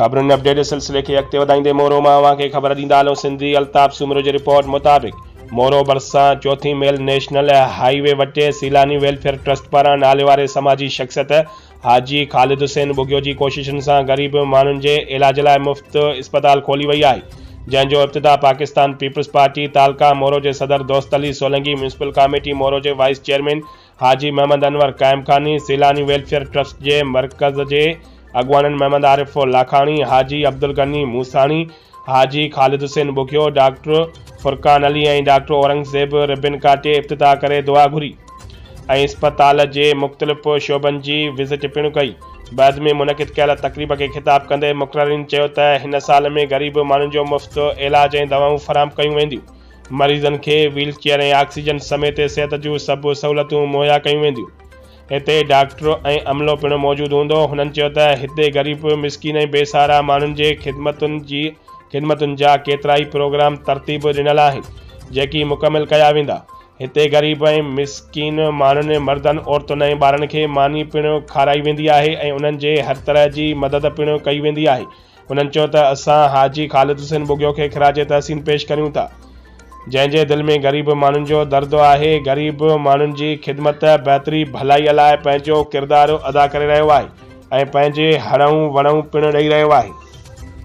خبرن اپڊيٽ جي سلسلي کي اڳتي وڌائيندي مورو مان اوهان کي خبر ڏيندا هلون سنڌي الطاف سومرو جي رپورٽ مطابق مورو ڀرسان چوٿين ميل نيشنل هائي وي وٽي سيلاني ويلفيئر ٽرسٽ پاران نالي واري سماجي شخصيت حاجي خالد حسين ٻگهيو جي ڪوششن سان غريب ماڻهن جي علاج لاء مفت اسپتال کولي وئي آهي جنهن جو افتتاح پاڪستان پيپلز پارٽي تعلقه مورو جي صدر دوست علي سولنگي ميونسپل ڪاميٽي مورو جي vice chairman Haji Muhammad Anwar Qaimkhani, Saylani welfare trust جي مرڪز جي اڳواڻن Muhammad Arif Lakhani, Haji Abdulghani Musani, Haji Khalid Hussain Bughio, doctor Furqan Ali ۽ doctor Aurangzeb ribbon ڪاٽي افتتاح ڪري دعا گهري ۽ اسپتال جي مختلف شعبن جي وزٽ پڻ ڪئي. بعد ۾ منعقد ڪيل تقريب کي خطاب ڪندي مقررين چيو ته هن سال ۾ غريب ماڻهن جو مفت علاج ۽ دوائون فراهم ڪيون وينديون. مريضن کي ويل چيئر ۽ آڪسيجن سميت صحت جون سڀ سهولتون مهيا ڪيون وينديون. هتي ڊاڪٽر ۽ عملو پڻ موجود هوندو. هنن چيو ته هتي غريب، مسڪين ۽ بي سهارا ماڻهن جي خدمتن جي خدمتن جا ڪيترائي پروگرام ترتيب ڏنل آهن، جيڪي مڪمل ڪيا ويندا. هتي غريب ۽ مسڪين ماڻهن، مردن، عورتن ۽ ٻارن کي ماني پڻ کارائي ويندي آهي ۽ انهن جي هر طرح جي مدد پڻ ڪئي ويندي آهي. هنن چيو ته اسان حاجي خالد حسين ٻگهيو کي خراج تحسين پيش ڪريون ٿا جنهن جي دل ۾ غريب ماڻهن جو درد آهي غريب ماڻهن جي خدمت بهتري ڀلائي لاء پنهنجو ڪردار ادا ڪري رهيو آهي ۽ پنهنجي هڙئون وڙئون پڻ ڏئي رهيو آهي.